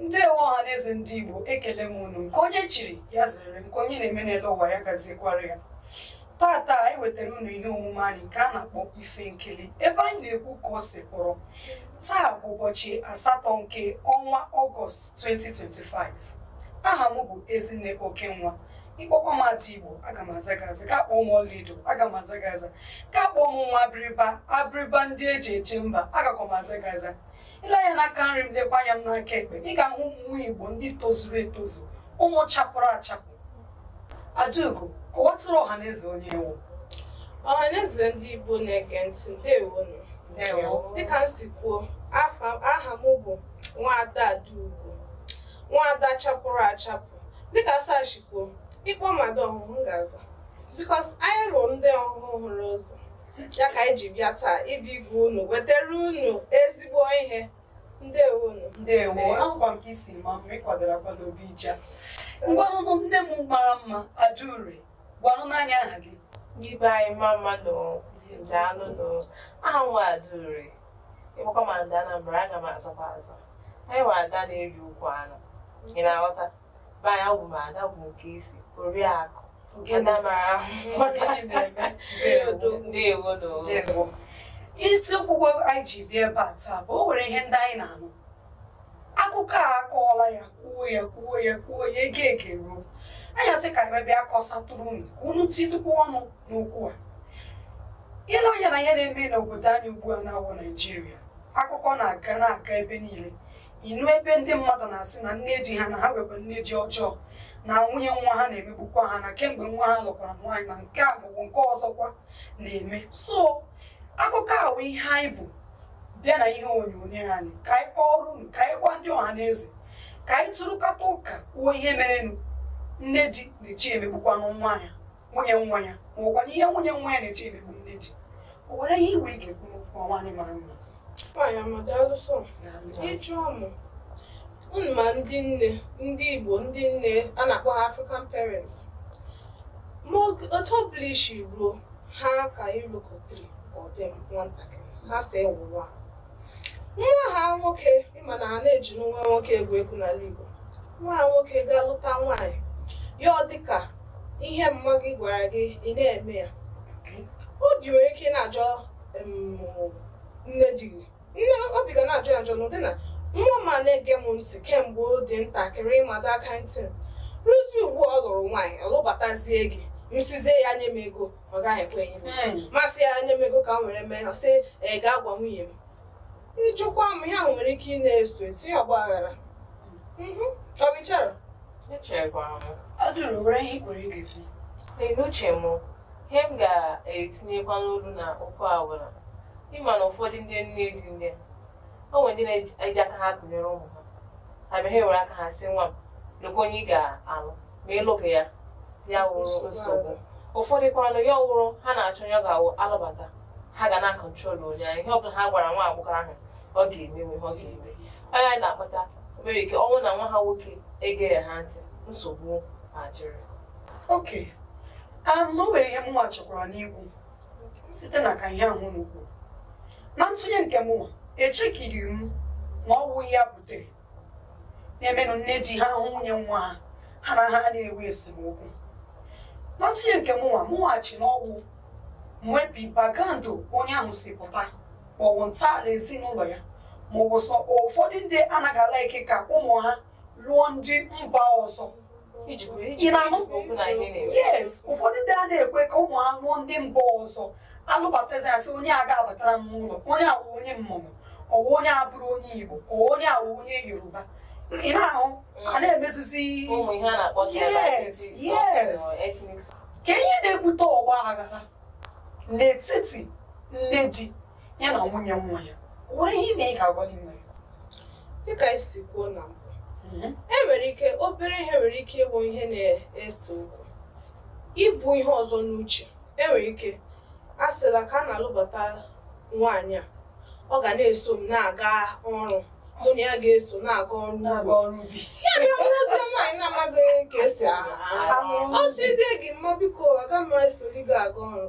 ndewo ọha na eze ndị igbo ekele m unu nke onye chiri ya zere nke onye na-eme n'elu ụwa ya gaziekwara ya tata anyị wetara unu ihe omume anyị nke a na-akpọ ife nkili ebe anyị na-ekwu ka o si kpọrọ taa bụ ụbọchị asatọ nke ọnwa ọgọst 2025 aha m bụ ezinne okenwa ịkpọkwa m ada igbo aga m aza gị aza ka kpọọ m ọlaedo aga m aza gị aza ka kpọọ m nwa abịrịba abịrịba ndị eji eje mba agakwa m aza gị aza ile anya n'aka nri m lekwa anya m n'aka ekpe ị ga-ahụ ụmụ igbo ndị tozuru etozu ụmụ chapụrụ achapụ adaugo kọwatụrụ ọha na eze onye ị wụ ọha na eze ndị igbo na-ege ntị ndewonụ dịka m si kwuo aha m bụ nwaada adaugo nwaada chapụrụ achapụ Dịka Asar si kwuo, ịkpọ m ada ọhụhụ m ga-aza because anyị wụ ndị ọhụhụ hụrụ ụzọ ya ka anyị ji bịa taa ịbịa ịgwa unu wetara unu ezigbo ihe ndewo unu ndewo ahụkwa m ka i si maa mma ịkwadoro akwado obi ija ngwanụnụ nne m mara mma adaure gwanụnụ anyị aha gị ndị be anyị mma mma nụ daalụ aha m wụ adaure ịkpọkwa m ada Anambra aga m azakwa aza anyị nwere ada na-eri ukwu anụ ị na-aghọta be anyị awụ m ada bụ nke isi oriakụ ada mara ahụ ndewo ndewo isi okwu anyị ji bịa ebe a taa bụ o nwere ihe ndị anyị na-anụ akụkọ a akọọla ya kwuo ya kwuo ya kwuo ya ege ege ruo anyị asị ka anyị bịa kọsatụrụ unu ka unu tidukwa ọnụ n'okwu a ile anya na ihe na-eme n'obodo anyị ugbu a na-awụ naijiria akụkọ na-aga na-aga ebe niile inu ebe ndị mmadụ na-asị na nne di ha na ha nwekwa nne di ọjọọ na nwunye nwa ha na-emegbukwa ha na kemgbe nwa ha lụkwara nwaanyị na nke a maọbụ nke ọzọkwa na-eme so akụkọ a wụ ihe anyị bu bịa na ihe onyonyo anyị ka anyị kọọrọ unu ka anyị gwa ndị ọha na eze ka anyị tụrụkọta ụka kwuo ihe merenụ nne di na-eji emegbukwanụ nwa ya nwunye nwa ya ma ọkwa n'ihe nwunye nwa ya na-eji emegbu nne di o nwere ihe i nwere ị ga-ekwu n'okwu a nwaanyị mara mma nwaanyị amada asụsụ ị jụọ mụ unu ma ndị nne ndị igbo ndị nne a na-akpọ ha african parents ma otu ọbụla i si ruo ha ka ịlụkọtiri ọdị nwatakịrị ha si ewụwa nwa ha nwoke ị ma na ha na-eji nwa nwoke egwu egwu n'ala Igbo nwa ha nwoke gaa lụta nwaanyị ya ọ dịka ihe mma gị gwara gị ị na-eme ya obi nwere ike na-ajọ nne di gị nne obi ga na-ajọ ya njọ n'ụdị na nwa m a na-ege m ntị kemgbe ọ dị ntakịrị ịmado aka ntị ruzi ugbu ọ lụrụ nwaanyị ọ lụbatazie gị m sịzie ya nye m ego ọ gaghị ekwe ihe mee. m sị ya nye m ego ka m were mee ha sị ee gaa gwa nwunye m ịjụkwa m ihe ahụ nwere ike ị na-eso etinye ọgba aghara Mhm. ọ bụ ihe m chere Echekwara m. Ọ dịrị nwere ihe i nwere ị ga-ekwu. Ee, n'uche m ihe m ga-etinyekwa n'olu na okwu a bụ na ịma na ụfọdụ ndị nne di ndị o nwere ndị na-eji aka ha lụnyere ụmụ ha ha bịa ha ewere aka ha sị nwa m lekwa onye ị ga-alụ ma ịlụghị ya ya wụrụ nsogbu ụfọdụ kwanụ ya awụrụ ha na-achọ onye ọ ga-awụ alụbata ha ga na-akọntrol onye ahụ ihe ọ bụla ha gwara nwa agbọghọ ahụ ọ ga-eme ihe ọ ga-eme onye anyị na-akpata nwere ike ọwụ na nwa ha nwoke egere ha ntị nsogbu adịrị okay um, na o nwere ihe mụnwa chọkwara n'ikwu site na ka ihe ahụ unu kwuru na ntụnye nke mụnwa echekiri m na ọwụ ya butere na-emenụ nne di ha ahụ nwunye nwa ha ha na ha na-enwe esemokwu na ntụnye nke mụnwa mụ na-eche na ọwụ maybe background onye ahụ si pụta maọbụ ntọala ezinụlọ ya maọbụ so ụfọdụ ndị anaghị alike ka ụmụ ha lụọ ndị mba ọzọ ị na-anụ yes ụfọdụ ndị a na-ekwe ka ụmụ ha lụọ ndị mba ọzọ alụbatazi asị onye a ga-abatara m n'ụlọ onye a wụ onye mmụmụ ọwụ onye a bụrụ onye igbo ka onye a wụ onye yoruba ị na-ahụ mm. a na-emezizi yes yes ka ihe na-ebute ọgba aghara n'etiti nne di ya na nwunye nwa ya o nwere ihe i nwere ị ga-agwa anyị na ya dịka i si kwuo na mbụ mhm. e nwere ike obere ihe nwere ike ịbụ ihe na-ese okwu ibu ihe ọzọ n'uche e nwere ike a sịla ka a na-alụbata nwaanyị a ọ ga na-eso m na-aga ọrụ mụ na ya ga-eso na-aga ọrụ ubi ya ga-abụrụzi nwaanyị na-amaghị ka esi arụ ọ sịzie gị mma biko aga m esoli gị aga ọrụ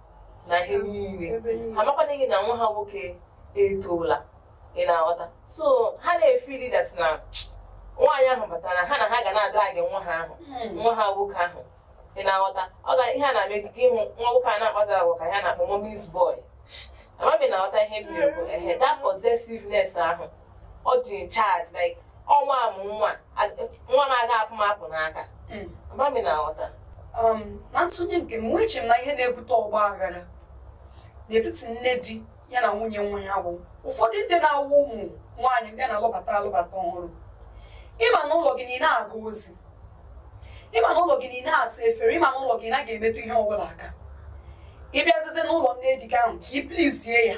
na ihe niile ebe niile. ha amakwanụghị na nwa ha nwoke etoola ị na-aghọta so ha na-efiili that na nwaanyị ahụ batara ha na ha ga na-adrag nwa ha ahụ nwa ha nwoke ahụ ị na-aghọta ọ ga ihe a na-emezi gị ịhụ nwa nwoke a na-akpazi agwa ka ihe a na-akpọ mommy's boy amaghị ma ị na-aghọta ihe m na-ekwu ehe that possessiveness ahụ ọ dị in charge like ọ nwa mụnwa nwa m aga apụ m apụ n'aka hmm. ama m ị na-aghọta um, na ntụnye nke m eche m na ihe na-ebute ọgba aghara n'etiti nne di ya na nwunye nwa ya bụ ụfọdụ ndị na-awụ ụmụ nwaanyị ndị na-alụbata alụbata ọhụrụ ịma na ụlọ gị na ị na-aga ozi ịma na ụlọ gị na ị na-asa efere ịma na ụlọ gị na ị naghị emetụ ihe ọbụla aka ị bịazizi n'ụlọ nne di gị ahụ ka ị plizie ya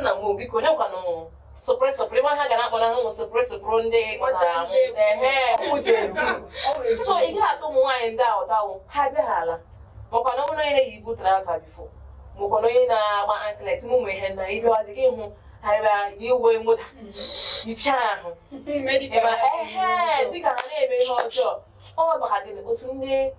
nna m biko onye kwanụ sopre sopre ma ha ga na-akpọ na ha ụmụ sopre sopre ndị so ị ga-ahụ ụmụ nwaanyị ndị ahụ tawo ha bịa ha ala makwa na onye na-eyibu traza bifo makwa na onye na-agba anklet m ụmụ ihe na ịbịawazi gị hụ ha bịa yi uwe mwụda yichaa ahụ dịka ha na-eme ihe ọjọọ ọ maka gịnị otu ndị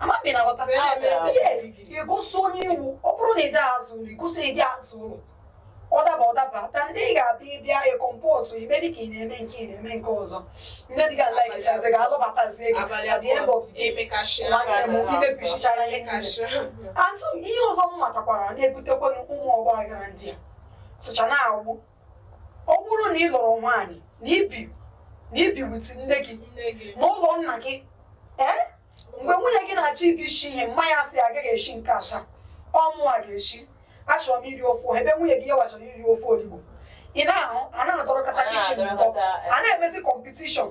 amaghị m ị na-aghọta yes igosi onye ị wụ ọ bụrụ na ị da aza ụlọ igosi ị dị aza ụlọ ọ daba ọ daba than ị ga-abịa ịbịa ịkọmpọtụ i mee dị ka ị na-eme nke ị na-eme nke ọzọ nne di gị alaikichazi gị a lụbatazie gị at the end of the day nwanne m i mebisichara ihe niile otu ihe ọzọ m matakwara na-ebutekwanụ ụmụ ọgba aghara ndị a socha na-awụ ọ bụrụ na ị lụrụ nwaanyị na i bi na i bi wit nne gị nne gị na ụlọ nna gị ee mgbe nwunye gị na-achọ ịbịa isi ihe mma ya sị agaghị esi nke a taa ọ mụwa ga-esi achọrọ m iri ofe oha ebe nwunye gị yawa chọrọ iri ofe olugbu ị na-ahụ a na-adọrọkọta kichin ndọ a na-emezi kọmpetishọn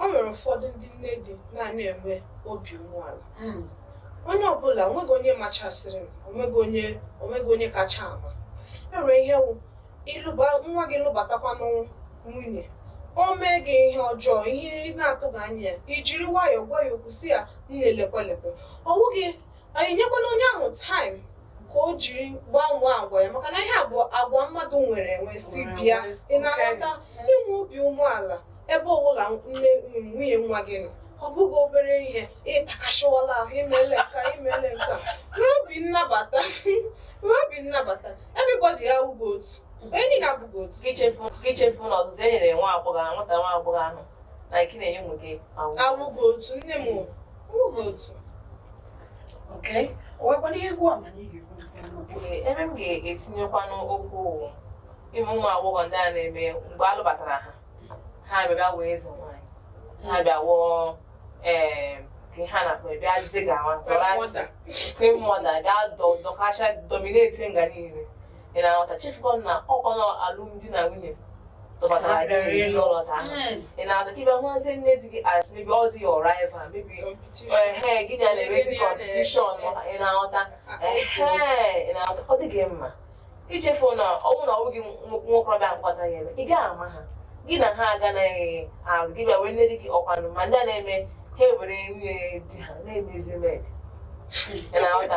O nwere ụfọdụ ndị nne di na-anaghị enwe obi umeala. Mm. Onye ọbụla, onweghị onye machasịrịnụ, onweghị onye onweghị onye kacha ama. E nwere ihe wụ ịlụba nwa gị lụbatakwanụ nwunye, o mee gị ihe ọjọọ, ihe ị na-atụghị anya ya, i jiri nwayọọ gwa ya okwu sị ya nne lekwe lekwe. Ọ wụghị Anyị nyekwanụ onye ahụ taịm ka o jiri gbanwee agwa ya maka na ihe a bụ agwa mmadụ nwere wee si bịa ị na-aghọta inwe obi umeala ebe ọbụla nne nwunye nwa gị nọ ọ bụghị obere ihe ị takasịwala ahụ i mele nke a i mele nke a nwee obi nnabata nwee obi nnabata everybody awụghị otu onye niile abụghị otu Gị chefu gị chefu na ọzụzụ e nyere nwa agbọghọ ahụ nwata nwa agbọghọ ahụ na nke ị na-enye ụmụ gị awụ. awụghị otu nne m ebe m ga-etinyekwanụ okwu wụ ihe ụmụ agbọghọ ndị a na-eme mgbe a lụbatara ha ha bịa wụọ eze nwaanyị ha bịa wụọ ee ka ha na bịa dịga nwa dọrọ ntị queen mother bịa dọkacha domineti nga niile ị na-aghọta chefukwa na ọkwa na alụmdi na nwunye dọbatara gị n'ezinụlọ ka ahụ ị na-aghọta ka ị bịa hụzie nne di gị as maybe ọzi your rival maybe ehe gị na ya na-emezi competition ị na-aghọta ehe ị na-aghọta ọ dịghị mma ichefu na ọ wụ na ọ wụghị nwokorobịa mkpata ya eme ị gaghị ama ha gị na ha aganaghị arụ gị bịa were nne di gị ọkwanụ ma ndị a na-eme ha ewere nwunye di ha na-emezi med ị na-aghọta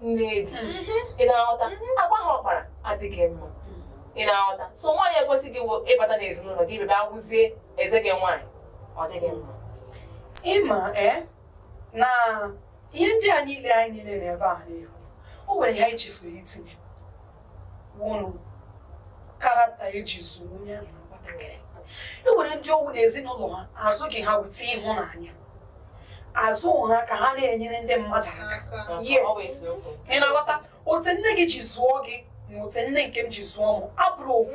nne di ị na-aghọta agwa ahụ ọ kpara adịghị mma ị na-aghọta so nwaanyị ekwesịghị ịwụ ịbata n'ezinụlọ gị bịa bịa wụzie eze gị nwaanyị ọ dịghị mma ịma ee na ihe ndị a niile anyị niile na ebe a n'ihu o nwere ihe anyị chefuru itinye wụrụ character eji zụọ onye ahụ nwatakịrị e nwere ndị ọ wụ na ezinụlọ ha azụghị ha with ịhụnanya azụ ha ka ha na-enyere ndị mmadụ aka yes ị na-aghọta otu nne gị ji zụọ gị na otu nne nke m ji zụọ m abụrọ ofu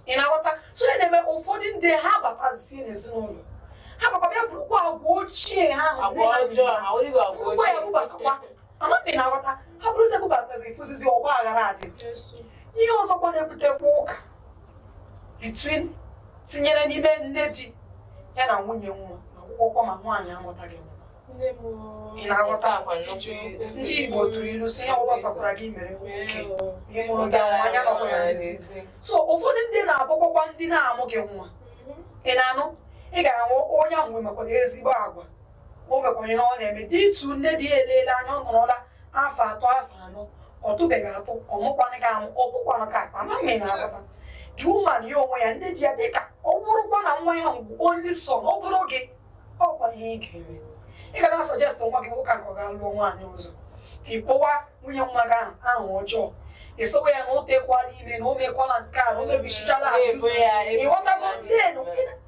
ị na-aghọta so ya na-eme ụfọdụ ndị ha batazie n'ezinụlọ ha bakwa bịa burukwa agwa ochie ha ahụ nne ha ji ha burukwa ya bubatakwa Amaghị m ma ị na-aghọta ha buruzi ya bubatazi ị fụzizi ọgbaghara adị ihe ọzọkwa na-ebutekwa ụka between tinyere n'ime nne di ya na nwunye nwa wụkwa ma nwaanyị amụtaghị nwa ị na-aghọta ndị Igbo tụrụ ilu sị ihe ọbụla sọkwara gị mere nwoke ị mụrụghị nwa anya nọkwa ya n'ezi so ụfọdụ ndị na-abụkwakwa ndị na-amụghị nwa ị na-anụ ị ga-ahụ onye ahụ nwekwara ezigbo agwa o nwekwara ihe ọ na-eme dị ịtụ nne di ya eleele anya ọ nọrọla afọ atọ afọ anọ ọ tụbeghị atụ ọ mụkwanụghị amụ ọ bụkwanụ ka akpa amaghị m ma ị na-aghọta the woman ya onwe ya nne di ya dịka ọ bụrụkwa na nwa ya bụ only son ọ bụrụ gị ọ kwa ihe ị ga-eme ị ga na-asuggest nwa gị nwoke a ka ọ gaa lụọ nwaanyị ọzọ ị kpọwa nwunye nwa gị ahụ aha ọjọọ esowe ya na o tekwala ime na o mekwala nke a na o mebisichala ha Na-ebo ya ebubo. ị ghọtago na-adị den ya.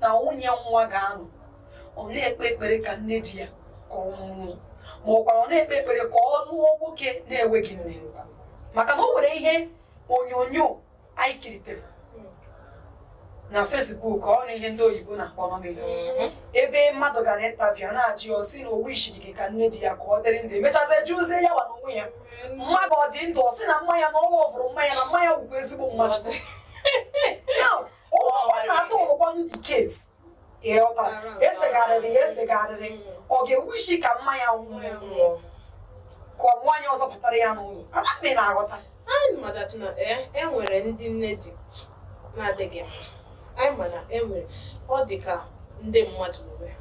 na nwunye nwa ga-anọ ọ na-ekpe ekpere ka nne di ya ka ọ nwụọ ma ọ gwara ọ na-ekpe ekpere ka ọ lụọ nwoke na-enweghị nne maka na o nwere ihe onyonyo anyị kiritere na Facebook ọ na ihe ndị oyibo na-akpọ mhm. ebe mmadụ gara interview na-ajụ ya sị na o wishirighị ka nne di ya ka ọ dịrị ndụ emechazi jụzie ya wa n'onwe ya mmadụ ọ dị ndụ ọ sị na mma ya na ọ wụrụ mma ya na mma ya wụkwa ezigbo mmadụ ụlọ na-atọ ụlọkwa the case ị ghọtara esegharịrị ya esegharịrị ọ ga-ewishi ka mma ya nwụọ ka ọ nwaanyị ọzọ batara ya n'ụlọ amaghị m ma ị na-aghọta anyị ma that na eh, e nwere ndị nne di na-adịghị mma anyị ma na e nwere ọ dị ka ndị mmadụ n'onwe ha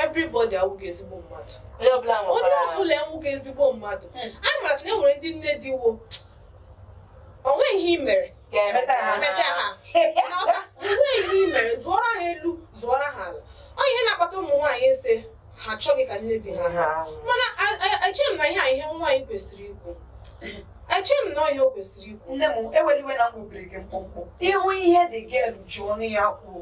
everybody awụghị ezigbo mmadụ onye ọbụla onye nwekwara ọbụla awụghị ezigbo mmadụ anyị mara na e nwere ndị nne di wụ o nwe ihe i mere ga-emeta ha Emeta ha. N'ọka, o nwe ihe i mere zụọrọ ha elu zụọrọ ha ala ọ ihe na-akpata ụmụ nwaanyị asị ha achọghị ka nne di ha ha mana a- a- eche m na ihe a ihe nwaanyị kwesịrị ikwu eche m na ọ ihe o kwesịrị ikwu nne m ewela iwe na m gbubiri gị mkpụmkpụ ị hụ ihe dị gị elu ji ọnụ ya kwuo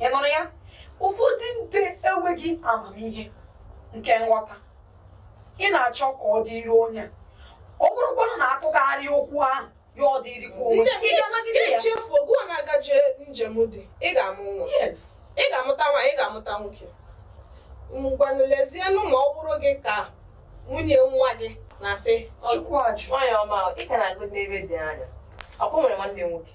ị nụrụ ya ụfọdụ ndị enweghị amamihe nke nghọta ị na-achọ ka ọ dịrị onye a. ọ bụrụkwanụ na atụgharịa okwu ahụ ya ọ dịrịkwa onwe Nne m, ị ga-anagide ya ichefu oge ọ na-agaje njem di ị ga-amụ nwa yes ị ga-amụta nwa ị ga-amụta nwoke ngwanụ lezienụ ma ọ bụrụ gị ka nwunye nwa gị na-asị "Ọ- chukwu ajụ nwaanyị ọma ahụ ị ka na-aga n'ebe dị anya ọkwa nwere nwanne nwoke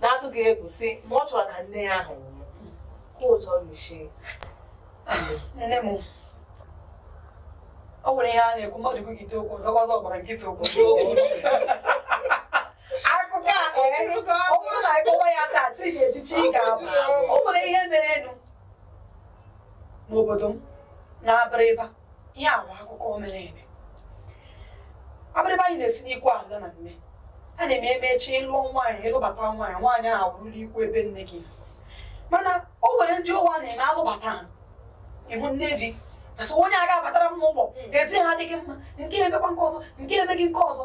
na-atụghị egwu sị na ọ chọrọ ka nne ya ahụ nwụọ ka ụzọ ga-esi nne m o nwere ihe a na-ekwu mmadụ kwugide okwu ọzọkwa ọzọ gbara nkịtị okwu akụkọ a ee, ọ bụrụ na ị kọwa ya taa chi ga-eji chi ga-abọ o nwere ihe merenụ n'obodo m n'Abịrịba ihe a bụ akụkọ mere eme Abịrịba anyị na-esi n'ikwu ahụ na nne a na-eme eme echi ị lụọ nwaanyị ị lụbata nwaanyị nwaanyị ahụ bụrụla ikwu ebe nne gị mana o nwere ndị ụwa na-eme alụbata ha ị hụ nne di asị onye a ga-abatara m n'ụlọ ezi ha adịghị mma nke emekwa nke ọzọ nke emeghị nke ọzọ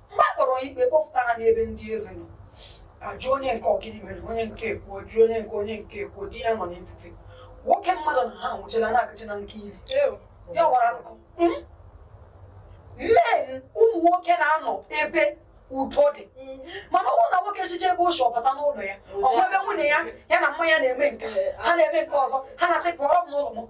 mgbe a kpọrọ ikpe kpọfụta ha n'ebe ndị eze nọ ajụọ onye nke a ọ gịnị mere onye nke ekwuo jụọ onye nke onye nke ekwuo di ya nọ n'etiti nwoke mmadụ na ha nwụchila na-agachi na nke iri ya wara akụkọ hmm? men ụmụ nwoke na-anọ ebe udo dị hmm. mana ọ bụrụ na nwoke sichaa ebe o si ọ bata n'ụlọ ya hmm. ọ ebe nwunye ya ya na mma ya na-eme nke ha na-eme nke ọzọ ha na-asị pụọrọ m n'ụlọ m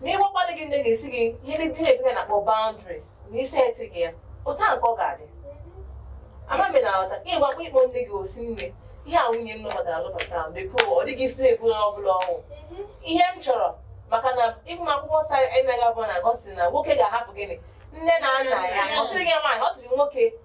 ma ị gwakwa di gị nne ga-esi gị ihe ndị ihe bekee na-akpọ boundaries na i setighị ya otu a nke ọ ga-adị ama m na aghọta ka ịgwakwa ịkpọ nne gị ọ sị nne ihe a nwunye m lụbatara alụbata ahụ biko ọ dịghị isi na-ebu onye ọ bụla ọ wụ ihe m chọrọ maka na even akwụkwọ nsọ anyị na-agụ bụ na gosi na nwoke ga-ahapụ gịnị nne na nna ya ọ sịrịghị nwaanyị ọ sịrị nwoke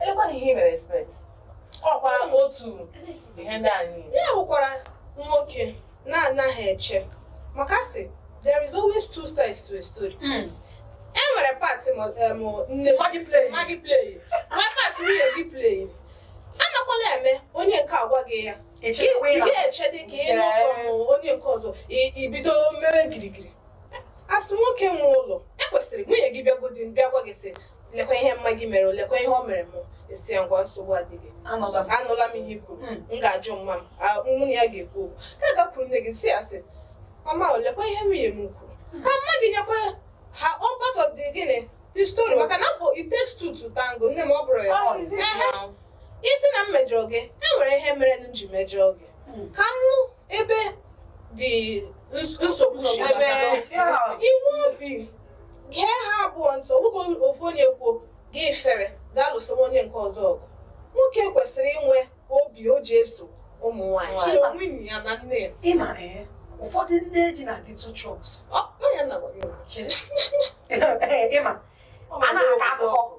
Elekwana ihe i mere expect. Ọkwa otu ihe ndị a niile. Ya bụkwara nwoke na-anaghị eche maka a sị there is always two sides to a story. E nwere part ma eh, ma nne mma gị play. ma gị play nwee part nwunye gị play anakwala eme onye nke a gwa gị ya Echekwa ị ịna. ga-eche dị ka ị nụ from onye nke ọzọ i- ibido mewe girigiri asị nwoke nwe ụlọ ekwesịrị nwunye gị bịagodi bịa gwa gị sị lekwa ihe mma gị mere lekwa ihe o mere m ị sị ya ngwa nsogbu adịghị anụla m anụla m ihe i kwuru Hmm. m ga-ajụ mma m a- mụ na ya ga-ekwu okwu ị gakwuru nne gị sị ya sị mama o lekwa ihe nwunye m kwuru ka mma gị nyekwa her own part of the gịnị the story maka na bụ it takes two to tango nne m ọ bụrụ ya Ọ izi Ehe. na- ị sị na m mejọrọ gị e nwere ihe mere m ji mejọọ gị Hmm. ka m nụ ebe dị nsogbu inwe obi gee ha abụọ ntị ọ bụghị ofu onye kwuo gị fere gaa lụso onye nke ọzọ ọgụ nwoke kwesịrị inwe obi o ji eso ụmụ nwaanyị so nwunye ya na nne ya ịma ee ụfọdụ nne di na-adị too toxic Ọ- ọ ya na-agwa gị. ịma a na-akọ akụkọ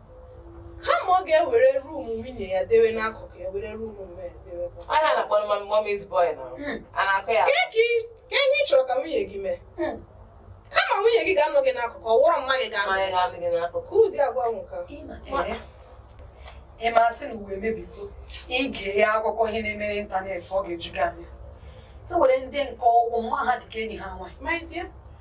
kama ọ ga-ewere ruum nwunye ya dewe n'akụkụ ya were ruum onwe ya dewe kwa. Anya na-akpọ mma mommy's boy na Hmm. a na-akọ ya. Kee ka ị- kee ihe ị chọrọ ka nwunye gị mee Hmm. kama nwunye gị ga-anọ gị n'akụkụ ọ wụrụ mma gị ga-anọ Mma ya. ga-adị gị n'akụkụ. ka ụdị agwa ahụ ka Ịma ee, ịma asị na ụwa emebigo ị gee akụkọ ihe na-eme n'ịntanetị ọ ga-eju gị anya e nwere ndị nke ọ wụ mma ha dị ka enyi ha nwaanyị my dear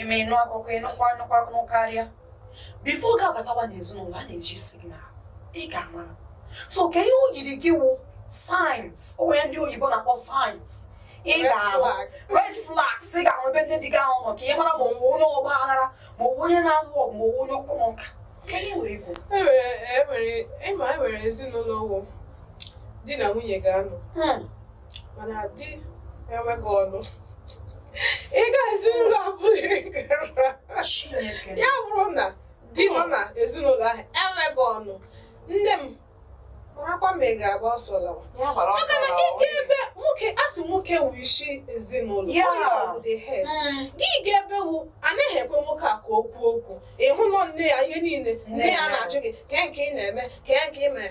ime ịnụ akụkọ ịnụkwa anụkwa akụkọ karịa bifo ị ga-abatawa n'ezinụlọ a na-eji signal ị ga-amara so kee ihe o yiri gị wụ signs o nwere ihe ndị oyibo na-akpọ signs ị Red ga-ahụ flag. red flags ị ga-ahụ ebe nne di gị ahụ nọ ka ị mara ma ọ wụ onye ọgba aghara ma ọ wụ onye na-alụ ọgụ ma ọ wụ onye okwu na ụka ka ihe nwere ikwu enwere enwere ịma enwere ezinụlọ wụ di na nwunye ga-anọ Hmm. mana di enweghị ọnụ ị ga ezinụlọ abụghị ya bụrụ na di nọ na ezinụlọ ahụ enweghị ọnụ nne m marakwa ma ị ga-agba ọsọ lawa maka na gị ga ebe nwoke a sị nwoke wụ isi ezinụlọ onye ọ bụ the head hmm. gị ga ebe wụ anaghị ekwe nwoke a ka o kwuo okwu ịhụ na ọ nne ya ihe niile nne ya na-ajụ gị kee nke ị na-eme kee nke ị mere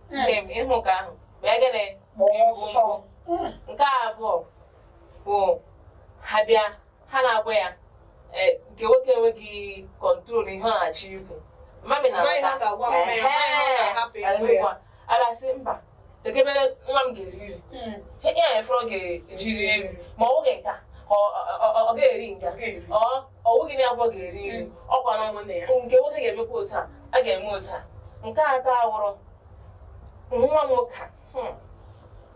nne m ịhụ nke ahụ mee gịnị gbaa ọsọ nke abụọ bụ ha bịa ha na-agwa ya eh, nke nwoke enweghị kọntrol ihe ọ na-achọ ikwu mami na Amaghị ha ga-agwa m na ya, amaghị ha ga-ahapụ ya, onwe ya. abịa sị mba kee ebe nwa m ga-eri nri Mm. ihe a efere ọ ga-eji rie nri ma ọ wụghị nka ọ ọ- ọ- ọ ga-eri nka Ọ ga-eri. ọ ọ wụghị n'ebe a ọ ga-eri nri ọ kwa na ụmụnne ya nke nwoke ga-emekwa otu a a ga-eme otu a nke atọ awụrụ nwa m nwoke hmm.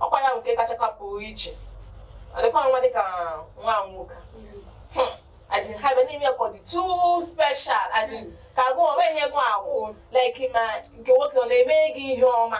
ọkwa ya nke kacha kapụ iche ọ dịkwa nwa dịka nwa m nwoke hmm. as in ha abịa na-eme ya ka ọ dị too special as in ka agụ onwe ihe gụ agwụ like ma nke nwoke ọ na-eme gị ihe ọma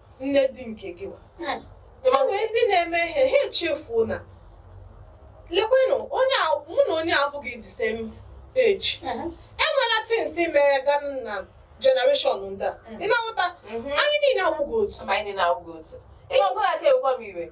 nne di nke gị wa Hmm. e nwere ndị na-eme ihe ha echefuo na lekwenụ onye a mụ na onye a abụghị the same age Mhm. enwela tins mere ga na generation ndị a ị na-aghọta Mhm. anyị niile awụghị otu Ama anyị niile awụghị otu. Ihe ọzọ na-aka ewekwa m iwe.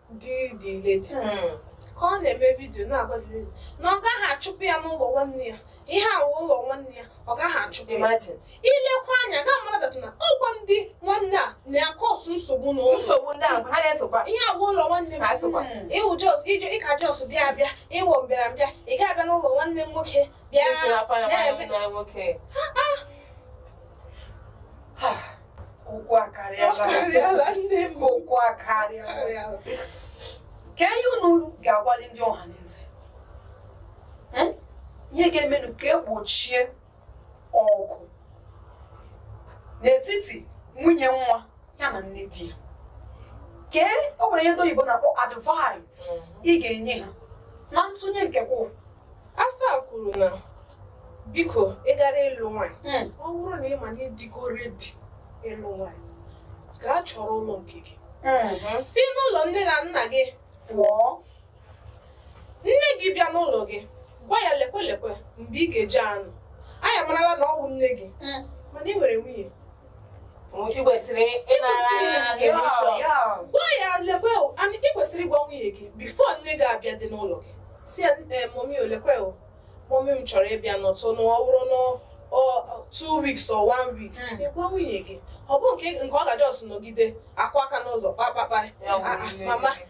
dị dị leti ka ọ na-eme vidio na-agwa gị na ọ gaghị achụpụ ya n'ụlọ nwanne ya ihe a wụ ụlọ nwanne ya ọ gaghị achụpụ ya Imagine. ilekwa anya ga-amara that na ọkwa ndị nwanne a na-akọsụ nsogbu na ụlọ nsogbu ndị ahụ ha na-esokwa ihe a wụ ụlọ nwanne m Ha sokwa. Mm. ịwụ jos ije ịka jos bịa abịa ịwụ mbịarambịa ị ga-abịa n'ụlọ nwanne m nwoke bịa Etinyekwa ya nwanne na-eme m nwoke. okwu akarịala ndị m okwu akarịala kee ihe unu ga-agwali ndị ọha na eze hmm? ihe ga-emenụ ka egbochie ọgụ n'etiti nwunye nwa ya na nne di ya kee o nwere ihe ndị oyibo na-akpọ advice ị ga-enye ha na ntụnye nke kwụwa Asa kwuru na biko ị gara ịlụ nwaanyị hmm. ọ bụrụ na ị ma na ịdịgo redi ịlụ nwaanyị gaa chọrọ ụlọ nke gị hmm. si n'ụlọ nne na nna gị pụọ nne gị bịa n'ụlọ gị gwa ya lekwe lekwe mgbe ị ga-eji anọ anyị amarala na ọ bụ nne gị hmm. mana ị nwere nwunye ị kwesịrị ịnara ya permission. gwa ya lekwe o and ị kwesịrị ịgwa nwunye gị bifo nne gị abịadị n'ụlọ gị si ya "Eh, mọmi o lekwe o mọmi m chọrọ ịbịa nọtụ na ọ bụrụ na ọ- ọ- two weeks or one week Mm. ị gwa nwunye gị ọ bụ nke nke ọ ga-ajọs nọgide akụ aka n'ụzọ kpakpakpa Ya Ah, ah, wụrụ mama nne gị.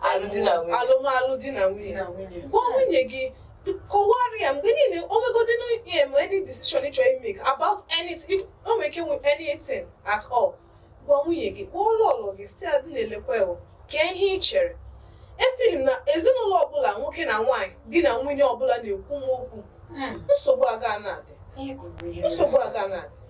alụmdi na nwunye. alụmalụ di na nwunye na nwunye gwa nwunye gị kọwara ya mgbe niile o nwegodi na ihe ma any decision ị chọrọ imake about anything o nwere ike nwe anything at all gwa nwunye gị kpọọ ụlọ ụlọ gị si adị na-elekwa ya o, kee ihe ị chere efeel m na ezinụlọ ọbụla nwoke na nwaanyị di na nwunye ọbụla na-ekwu nwa okwu nsogbu aga na-adị nsogbu aga na-adị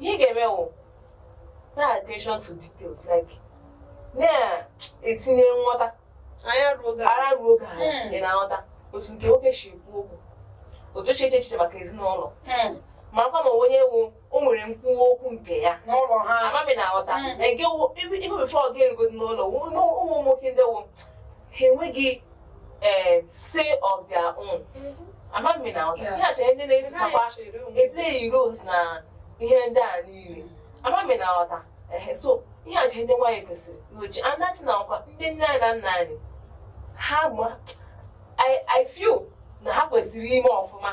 ihe ị ga-eme wụ pay attention to details like na-etinye nghọta anya ruo oge ara ruo oge ahụ Hmm. ị na-aghọta otu nke nwoke si ekwu okwu otu eche eche echiche maka ezinụlọ Hmm. marakwa ma onye ahụ o nwere nkwuwa okwu nke ya n'ụlọ ha amaghị m ma ị na-aghọta Hmm. na nke wụ ife bifo ọ ga-erugodi n'ụlọ wụ- ụmụ ụmụ nwoke ndị wụ ha enweghị ee say of their own amaghị na ihe acha ndị na-esochakwa eplay roles na ihe ndị a niile amaghị m ma ị na-aghọta ehe so ihe acha ndị nwaanyị kwesịrị n'oji anati na ọkwa ndị nne anyị na nna anyị ha ma i feel na ha kwesịrị ime ọfụma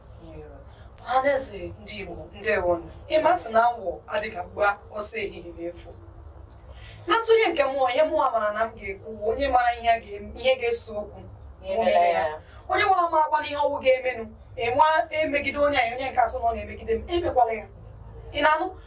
ọhaneze ndị Igbo ndewo ịma sị na awọ adịghị agba ọsọ ehihie n'efu na ntụnye nke mụwa ihe mụwa mara na m ga-ekwu onye mara ihe ga-ese okwu onye nwere m agwa n'ihe ọ wụ ga-emenụ enwe emegide onye anyị onye nke a sị na ọ na-emegide m emekwala ya ị na-anụ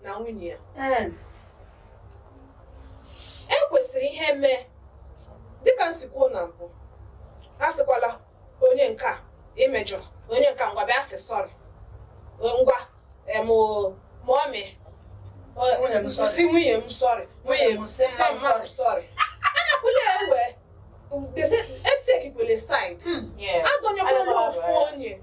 na nwunye ya Ee. e kwesịrị ihe mee dịka m si kwuo na mbụ a sịkwala onye nke a imejọrọ onye nke a ngwa bịa sị sorry ngwa em mummy sị nwunye m sorry. sị nwunye m sorry nwunye m sị nwa m mmadụ sorry anakwụla ewe etekikwele side Hmm. Yeah. adọnyekwala Anakwala ofu ewe. onye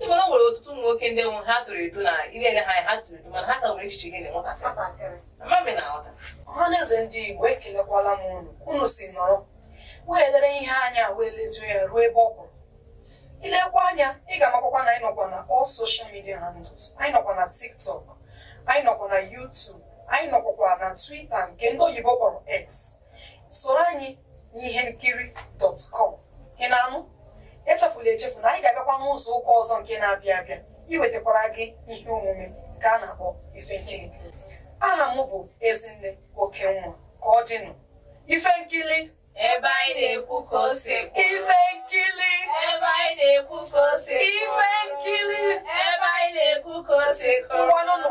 ị ma na o nwere ọtụtụ ụmụ nwoke ndị wụ ha toro eto na ị na-ele ha anya ha toro eto mana ha ka nwere echiche dị ka nwatakịrị nwatakịrị ama m na aghọta ọhaneze ndị igbo ekelekwala m unu ka unu si nọrọ wee lere ihe anya wee lejuo ya ruo ebe ọ kwụrụ i lekwa anya ị ga-amakwakwa na anyị nọkwa na all social media handles anyị nọkwa na tiktok anyị nọkwa na youtube anyị nọkwakwa na twitter nke ndị oyibo kpọrọ x soro anyị n'ihe nkiri dot com ị na-anụ echefula echefu na anyị ga-abịakwa n'izu ụka ọzọ nke na-abịa abịa iwetakwara gị ihe omume nke a na-akpọ ife nkiri aha m bụ ezinne okenwa ka ọ dịnụ ife nkiri ebe anyị na-ekwu ka o si ekwu ife nkiri ebe anyị na-ekwu ka o si ekwu ife nkiri ebe anyị na-ekwu ka o si ekwu ngwanụnụ